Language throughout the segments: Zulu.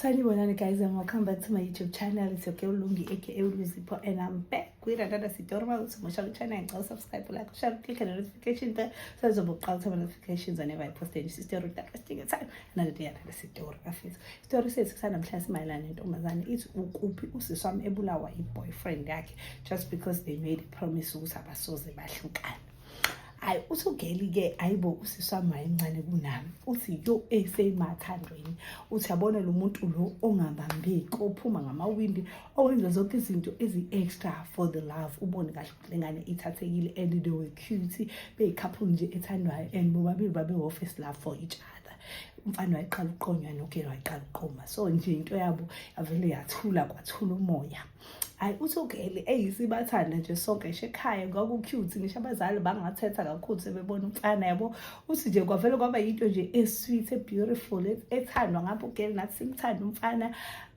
sanibonani guys and welcome back to my youtube channel it's your girl lungi aka uluzipho and i'm back with another sitorma usumusha kuchannel ngicela usubscribe like share click the notification bell so uzobe uqala ukuthola notifications whenever i post a new story that is taking time another day another story afethu story sethu sanamhlanje simayelana nentombazane ithi ukuphi usisi wami ebulawa i-boyfriend yakhe just because they made a promise ukuthi abasoze bahlukane hayi usugeli ke ayibo usiswami incane kunami uthi yo eseyimathandweni uthi yabona lo muntu lo ongabambeki ophuma ngamawindi owenza zonke izinto ezi-extra for the love ubone kahle ukuthi lengane ithathekile and they were cute beyikhaphulu nje ethandwayo and bobabili babe-office love for each other umfana wayeqala ukuqonywa nogela wayeqala ukuqoma so nje into yabo yavele yathula kwathula umoya hayi uthukeli eyi sibathanda nje sonke ngisho ekhaya kwaku-cute ngisho abazali bangathetha kakhulu sebebona umfana yabo uthi nje kwavele kwaba yinto nje e-sweet e-beautiful e-, ethandwa ngapho ugeli nathi simthanda umfana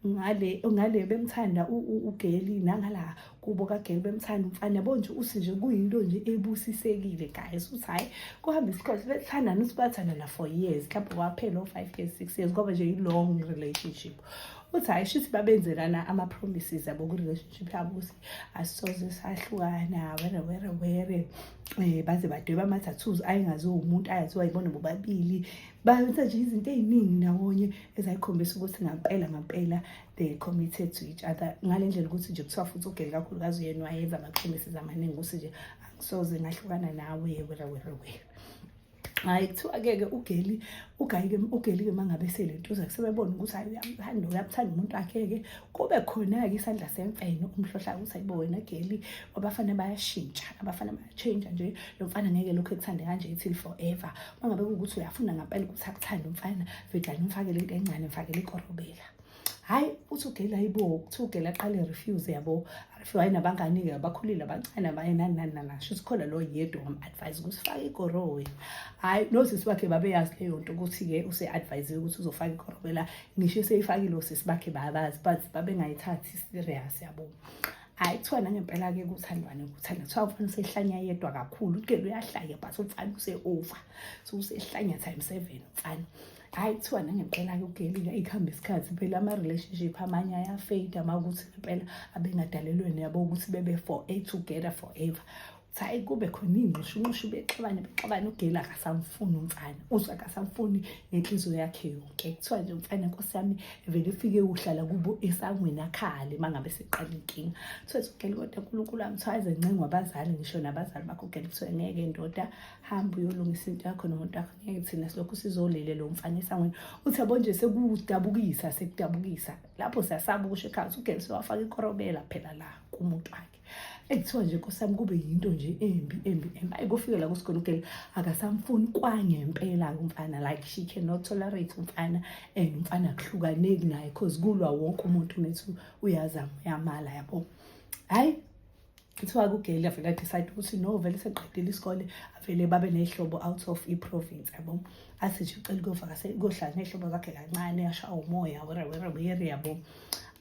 ngale ngale bemthanda ugeli nangala kubo kageli bemthanda umfana yabo nje uthi nje kuyinto nje ebusisekile guys uthi hhayi kuhambe isikhathi bethandana usibathanda na-four years mhlawumbe kwaphela o-five years six years kwaba nje yi-long relationship uthi hayi shithi babenzelana ama-promises abo kwi-relationship yabo ukuthi asisoze sahlukana were were were um eh, baze badweba ama-tattoos ayengaziwa umuntu ayaziwa yibona bobabili benza nje izinto ey'ningi ndawonye ezayikhombisa ukuthi ngampela ngampela they committed to each other ngale ndlela ukuthi nje kuthiwa futhi ugeli kakhulukazi uyena wayenza ama-promises amaningi ukuthi nje angisoze ngahlukana nawe were were were hayi kuthiwa-ke-ke ugeli ugayike ugeli-ke uma ngabe selentuza sebebona ukuthi hayi uyamthanda uyamthanda umuntu wakhe-ke kube khona-ke isandla semfene umhlohla ukuthi ayibo wena geli abafana bayashintsha abafana bayatshintsha nje lo mfana ngeke lokhu ekuthande kanje itil forever uma ngabe kuwukuthi uyafuna ngampela ukuthi akuthande umfana vedlane umfakele into encane mfakele ikorobela hayi uthi ugeli hayibo kuthiwa ugeli aqale refuse yabo refuse hayi nabangani-ke abakhulile abancane abaye nani nani nani asho sikhona lo yedwa wam-advise ukuthi fake igorowe hhayi nosisi bakhe babeyazi leyo nto ukuthi-ke use-advisiwe ukuthi uzofaka igorowe la ngisho eseyifakile osisi bakhe babazi but babengayithathi serious yabo hayi kuthiwa nangempela-ke kuthandwane kuthanda kuthiwa umfana usehlanya yedwa kakhulu ugeli uyahlanya but umfana use-over so usehlanya time seven umfana hhayi kuthiwa nangempela-ke ugelika ikuhamba isikhathi phela ama-relationship amanye ayafeyida uma ukuthi ngempela abengadalelweni yabo ukuthi bebe for a together forever hayi kube khona iy'nqishunqishu bexabane bexabane ugeli akasamfuni umfana uzwe akasamfuni ngenhliziyo yakhe yonke kuthiwa nje umfana nkosi yami vele ufike uhlala kubo esangweni akhale uma ngabe seqala inkinga kuthiwa ugeli kodwa unkulunkulu wami kuthiwa aze ncengo abazali ngisho nabazali bakho ugeli kuthiwa ngeke ndoda hamba uyolungisa into yakho nomuntu wakho ngeke thina silokhu sizolele lo mfana esangweni uthi yabo nje sekudabukisa sekudabukisa lapho siyasaba ukusho ekhaya ugeli sewafaka ikorobela phela la kumuntu wakhe ekuthiwa nje nkosami kube yinto nje embi embi embi ayi kufike la kusigona ugeli akasamfuni kwangempela umfana like she cannot tolerate umfana and umfana akuhlukaneki naye cause kulwa wonke umuntu methi uyazama uyamala yabo hayi kuthiwa kugeli avele adecide ukuthi no vele seqedile isikole avele babe ney'hlobo out of i-province yabo athi nje ucela ukuyovakase kohlala ney'hlobo zakhe kancane ashawa umoya werewereweere yabo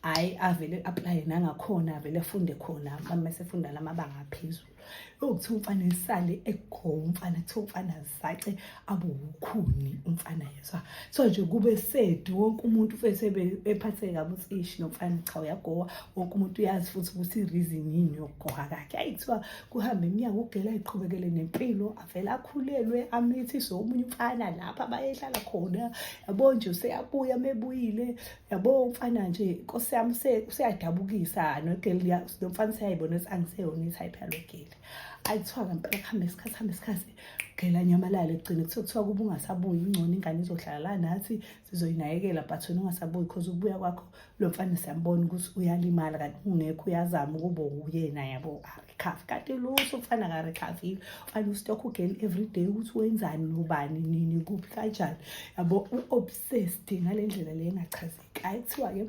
hhayi avele aplaye nangakhona avele afunde khona uma sefunda la mabanga aphezulu yokuthiwa umfana esale egomfana kuthiwa umfana zace abuwukhuni umfana yezwa so nje kube sedi wonke umuntu fese ephatheke kabi ukuthi ishi nomfana cha uyagowa wonke umuntu uyazi futhi ukuthi i-reason yini yokugoha kakhe ayi kuthiwa kuhambe iminyango ugela iqhubekele nempilo avele akhulelwe amithiswe omunye umfana lapha bayehlala khona yabo nje useyabuya mebuyile yabo umfana nje nkosi yami useyadabukisa nogeli nomfana useyayibona ukuthi angiseyona i-type yalogeli ayi kuthiwa ngempela kuhambe isikhathi hambe isikhathi phela nyamalala ekugcine kuthiwa kuthiwa kuba ungasabuyi ingcono ingane izohlala la nathi sizoyinakekela but wena ungasabuyi because ukubuya kwakho lo mfana siyambona ukuthi uyalimala kanti ungekho uyazama ukuba uyena yabo arikhafi kanti lutho umfana karikhafile ufana ustock ugeli every day ukuthi wenzani nobani nini kuphi kanjani yabo u-obsessed ngale ndlela le engachazeki ayi kuthiwa-ke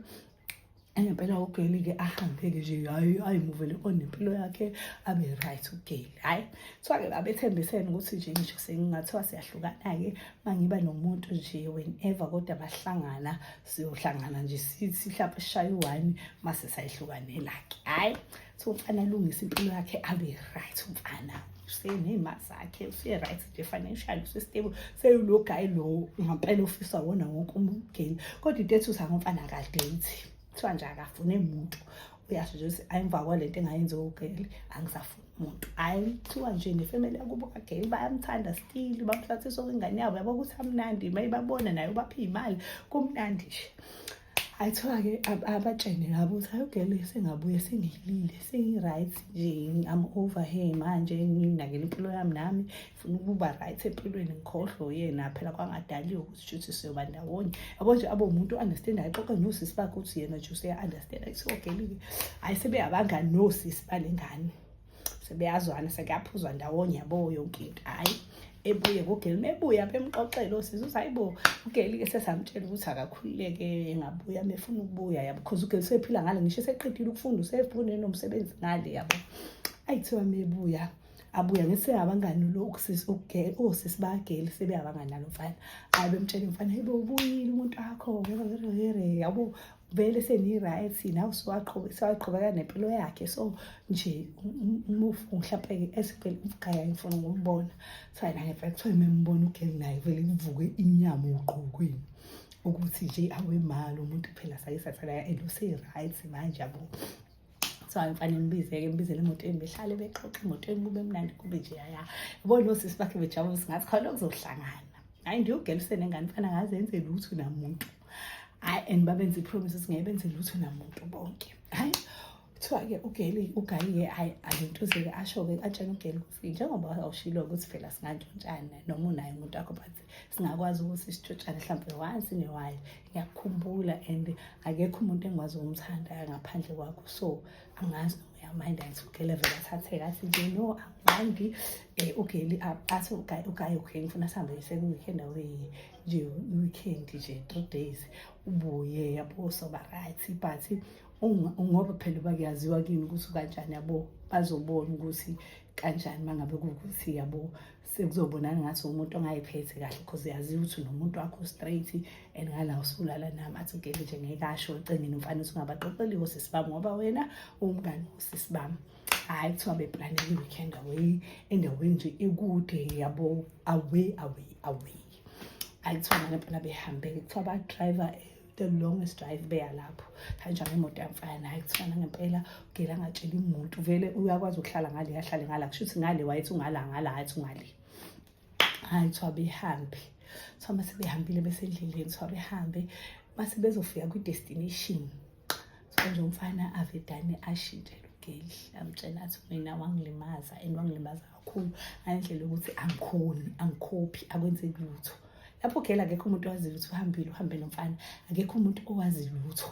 ngempela ugeli ke ahambeke nje hayi ayimuvele on impilo yakhe abe right ugeli hayi kuthiwa ke babethembisene ukuthi nje ngisho sengingathiwa siyahlukana-ke uma ngiba nomuntu nje whenever kodwa bahlangana siyohlangana nje sithi mhlawumpe sishaye u-one uma sisayihlukanela-ke hhayi so umfana alungise impilo yakhe abe right umfana useney'mali zakhe use-right nje financial use-stable seyulo guy lowo ngampela ofisa wona wonke umgeni kodwa into ethi usa ngomfana akadeyithi kuthiwa nje akafune muntu uyasho nje ukuthi ayimva kwale nto engayenzi ogeli angisafuni muntu hhayi kuthiwa nje nefemeli yakubo kageli bayamthanda stili bamhlathisa okwengane yabo yabo ukuthi amnandi uma ibabona naye ubaphe iy'mali kumnandi nje ayithiwa-ke abatshene labo ukuthi ayogele sengabuye sengilile sengi-right nje am over here manje nginakela impilo yami nami funa ukuba right empilweni ngikhohlwe uyena phela kwangadaliwe ukuthi shuthi siyoba ndawonye yabo nje abe umuntu o-understand ayixoxe nosisi bakhe ukuthi yena nje useya-understand ayithi ogelile hhayi sebeyabangani nosisi bale ngane sebeyazwana sekuyaphuzwa ndawonye yabo yonke into hhayi ebuye kugeli mebuya bemxoxele osizi uthi hayi bo ugeli-ke sesamtshela ukuthi akakhululeke engabuya mefuna ukubuya yabo because ugeli usephila ngale ngisho eseqedile ukufunda usefune nomsebenzi ngale yabo ayi kuthiwa mebuya abuya ngise abangani lo ukusisi ukugela osisi bageli sebe abangani nalo mfana ayi bemtshela mfana hey bo ubuyile umuntu wakho yabo vele seniyi-right naw sewaqhubeka nempilo yakhe so nje umufu mhlawumpe-ke esivele umgaya ngifuna ngombona sana ngempela kuthiwa memubona ugeli naye vele kuvuke inyama ugqokweni ukuthi nje awe mali umuntu phela sayisathana and useyi-right manje yabo so angifane ngibizeke ngibizele emotweni behlale bexoxe emotweni kube mnandi kube nje yaya yabona osisi bakhe bejabulisa ngathi khona okuzohlangana hayi nje ugeli usenengane fana ngazenze lutho namuntu hayi and babenza ipromise ukuthi ngeke benze lutho namuntu bonke hayi kuthiwa-ke ugeli ugayiye hayi alentuzeke asho-ke atshena ugeli ukuthi njengoba awushilo ukuthi phela singantshontshana noma unaye umuntu wakho but singakwazi ukuthi sitshontshane mhlawumbe wansi newayo ngiyakukhumbula and akekho umuntu engikwazi ukumthanda ngaphandle kwakho so angazi noma uyamayinda ngithi ugeli vele athatheka athi nje no angimandi um ugeli athi ugaye ugaye okay ngifuna sihambe sekuweekend awuye nje i-weekend nje three days ubuye yabo soba right but ngoba phela uba kuyaziwa kini ukuthi kanjani yabo bazobona ukuthi kanjani uma ngabe kuwukuthi yabo sekuzobonana ngathi umuntu ongayiphethe kahle because uyaziwa ukuthi nomuntu wakho straight and ngala usulala nami athi ugele nje ngeke asho ecengeni umfana uthi ungabaxoxeliwo sisibami ngoba wena uwumngani usisibami hayi kuthiwa beplanele i-weekend away endaweni nje ekude yabo away away away hayi kuthiwa nalempela behambe kuthiwa badriver the longest drive beya lapho kanjani imoto yamfana hayi kufana ngempela ugela angatshela umuntu vele uyakwazi ukuhlala ngale ahlale ngala kusho ukuthi ngale wayethi ungala ngala athi ungale hayi kuthiwa behambe kuthiwa uma sebehambile besendleleni kuthiwa behambe uma sebezofika kwi-destination so nje umfana avedane ashintshe lugeli amtshela athi mina wangilimaza and wangilimaza kakhulu ngalendlela yokuthi angikhoni angikhophi akwenzeki lutho lapho gela akekho umuntu owaziyo ukuthi uhambile uhambe nomfana akekho umuntu owazi lutho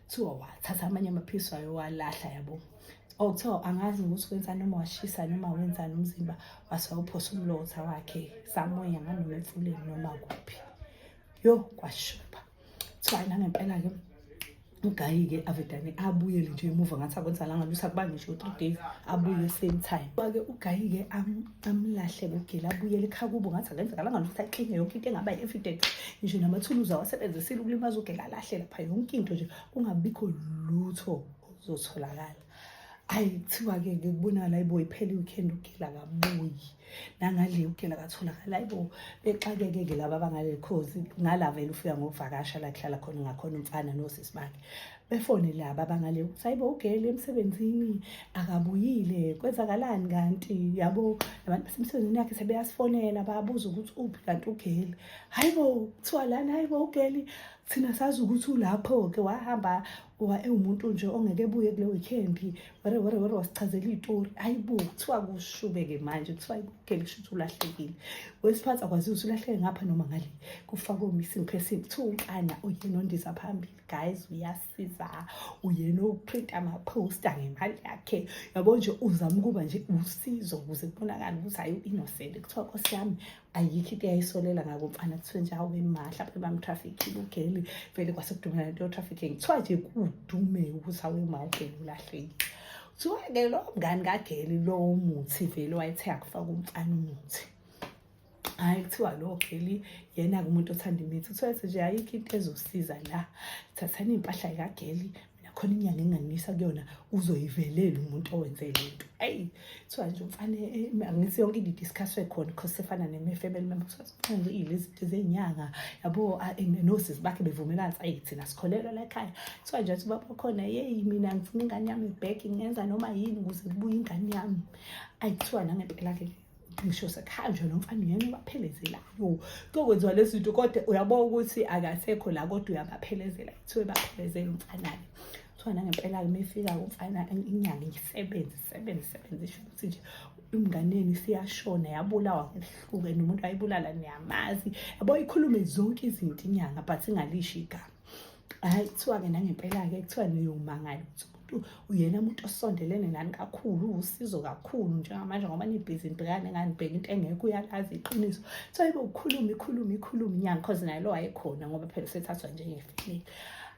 kuthiwa wathatha amanye amaphisi wayo walahla yabo or oh, kuthiwa angazi ukuthi kwenzani noma washisa noma wenzani umzimba wase wawuphosa umlotha wakhe samoya nganoma emfuleni noma kuphi yo kwashuba kuthiwa nangempela-ke ugayi-ke avedane abuyele nje emuva ngathi akwenzalanga lusa kuba ngisho three days abuye same time ba-ke ugayi-ke amlahle kugila abuyele ekhaya kubo ngathi akenzakalanga lutho ayixinge yonke into engaba yi-evidence ngisho namathuluzi awasebenzisile ukulima azogela alahle lapha yonke into nje kungabikho lutho zotholakala ayi kuthiwa-ke ke kubonakala ayibo iphele iweekend ugela kabuyi nangale ugela katholakala ayibo bexakeke ke laba abangaleli khozi ngala vele ufika ngokuvakasha la kuhlala khona ngakhona umfana nosisi bakhe befone laba bangale ukuthi hayibo ugele emsebenzini akabuyile kwenzakalani kanti yabo nabantu basemsebenzini yakhe sebeyasifonela bayabuza ukuthi uphi kanti ugele hayibo kuthiwa lani hayibo ugele thina sazi ukuthi ulapho-ke wahamba uba ewumuntu nje ongeke ebuye kule weekend were were were wasichazela iy'tori hayibo kuthiwa kushube-ke manje kuthiwa ugele kusho ukuthi ulahlekile wesiphathi akwaziwe ukuthi ulahleke ngapha noma ngale kufakwe missing person kuthiwa umfana oyena ondiza phambili guys uyasiza uyena uprint amaphosta ngemali yakhe yabo nje uzama ukuba nje usizo ukuze kubonakale ukuthi hayi u-innocent kuthiwa nkosi yami ayikho into eyayisolela ngako mfana kuthiwe nje awu imahla phe bamtrafikile ugeli vele kwasekudumela into yotrafficking kuthiwa nje kudume ukuthi awu imawugeli ulahlekile kuthiwa-ke lo mngani kageli lowo muthi vele wayethe akufaka umfana umuthi hhayi kuthiwa lo geli yena-ke umuntu othanda imithi kuthiwa ethi nje ayikho into ezosiza la thathani iy'mpahla yikageli mina khona inyanga enganisa kuyona uzoyivelela umuntu owenze le nto eyi kuthiwa nje umfane eh, angithi yonke into idiscusswe khona because sefana ne-family member kuthiwa sifana nje ilezi zinto zey'nyanga yabo ah, eh, nosisi bakhe bevumelana ukuthi ayi thina sikholelwa la ekhaya kuthiwa nje athi baba khona yeyi mina ngifuna ingane yami ibheki ngenza noma yini ukuze kubuye ingane yami ayi kuthiwa nangempela-ke ngisho sekhanjwa lo mfana uyena obaphelezelayo kokwenziwa lezi zinto kodwa uyabona ukuthi akasekho la kodwa uyabaphelezela kuthiwe baphelezela umfanake kuthiwa nangempela uma efika umfana inyanga isebenze isebenze isebenze isho ukuthi nje umnganeni siyashona yabulawa ngehluke nomuntu ayibulala niyamazi yabo ikhulume zonke izinto inyanga but ingalisho igama hayi kuthiwa-ke nangempela-ke kuthiwa niyomangala ukuthi umuntu uyena muntu osondelene nani kakhulu uwusizo kakhulu njengamanje ngoba nibhizi nibhekane nganibheka into engekho uyalazi iqiniso so ibe ukhulume ikhulume ikhulume inyanga cause naye lo wayekhona ngoba phela usethathwa njengefilini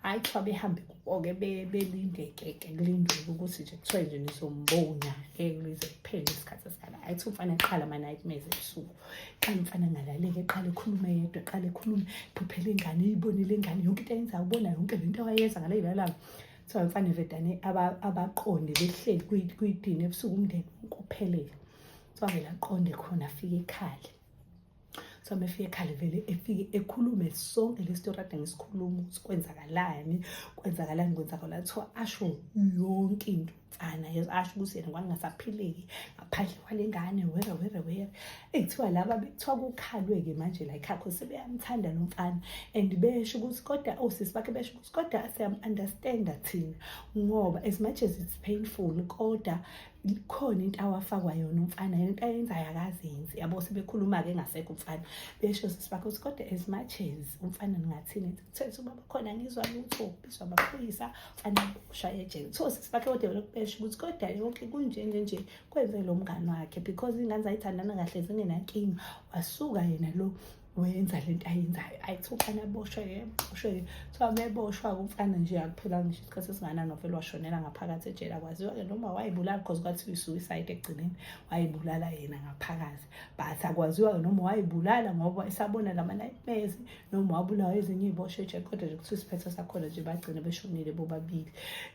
hhayi kuthiwa behambe kuko-ke belindekeke kulindele ukuthi nje kuthiwa nje nizombona ngeke lize kuphele isikhathi esikhala hhayi kuthiwa umfana eqhala ama-nightmares ebusuku qala umfana angalalele qala ekhulume yedwa qala ekhulume phuphela ingane iyibonile ingane yonke into ayenzayo ubona yonke le nto awayenza ngaleyilalanga kuthiwa mfana vedane abaqonde behleli kuyidini ebusuku umndeni ukuphelele kuthiwa vele aqonde khona afike ekhale so mefike ekhale vele efike ekhulume sonke le story ade ngisikhuluma ukuthi kwenzakalani kwenzakalani kwenzakalani kuthiwa asho yonke into sana yezo asho ukuthi yena kwangingasaphileki ngaphandle kwale ngane were were were ekuthiwa laba bekuthiwa kukhalwe-ke manje la ekhakho sebeyamthanda lo mfana and besho ukuthi kodwa osisi oh, bakhe besho ukuthi kodwa siyam-understanda thina ngoba as much as it's painful kodwa khona into awafakwa yona umfana yona into ayenzayo akazenzi yabo sebekhuluma-ke engasekho umfana besho sisi bakhe ukuthi kodwa as much as umfana ningathini ethi Thetha ubaba khona ngizwa lutho ubizwa amaphoyisa fanele ushaye ejele so sisi bakhe kodwa lokubesha ukuthi kodwa yonke kunjenge nje kwenze lo mngani wakhe because ingane zayithandana kahle zingenankinga wasuka yena lo wenza le nto ayenzayo ayi kuthiwa umfana aboshwe-ke boshwe-ke kuthiwa meboshwa-ke umfana nje akuphela ngisho isikhathi esinganani wavele washonela ngaphakathi ejele akwaziwa-ke noma wayibulala because kwathiwa i-suicide ekugcineni wayibulala yena ngaphakathi but akwaziwa-ke noma wayibulala ngoba esabona la ma-nightmares noma wabulawa ezinye iy'bosho ejele kodwa nje kuthiwa isiphetho sakhona nje bagcine beshonile bobabili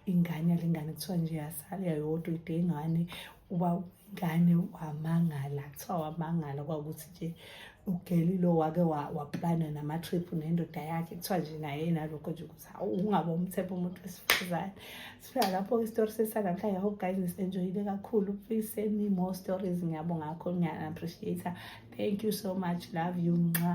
ingane yalengane kuthiwa nje yasala yayodwa ide ingane uba ingane wamangala kuthiwa wamangala kwakuthi nje ugeli lo wake waplana nama-trip nendoda yakhe kuthiwa nje naye nalokho nje ukuthi hawu ungaba umthepha umuntu wesifazane sifika lapho-ke isitori sesanamhlanje hope guys nisenjoyile kakhulu please send me more stories ngiyabonga kakhulu ngiya-appreciate thank you so much love you nxa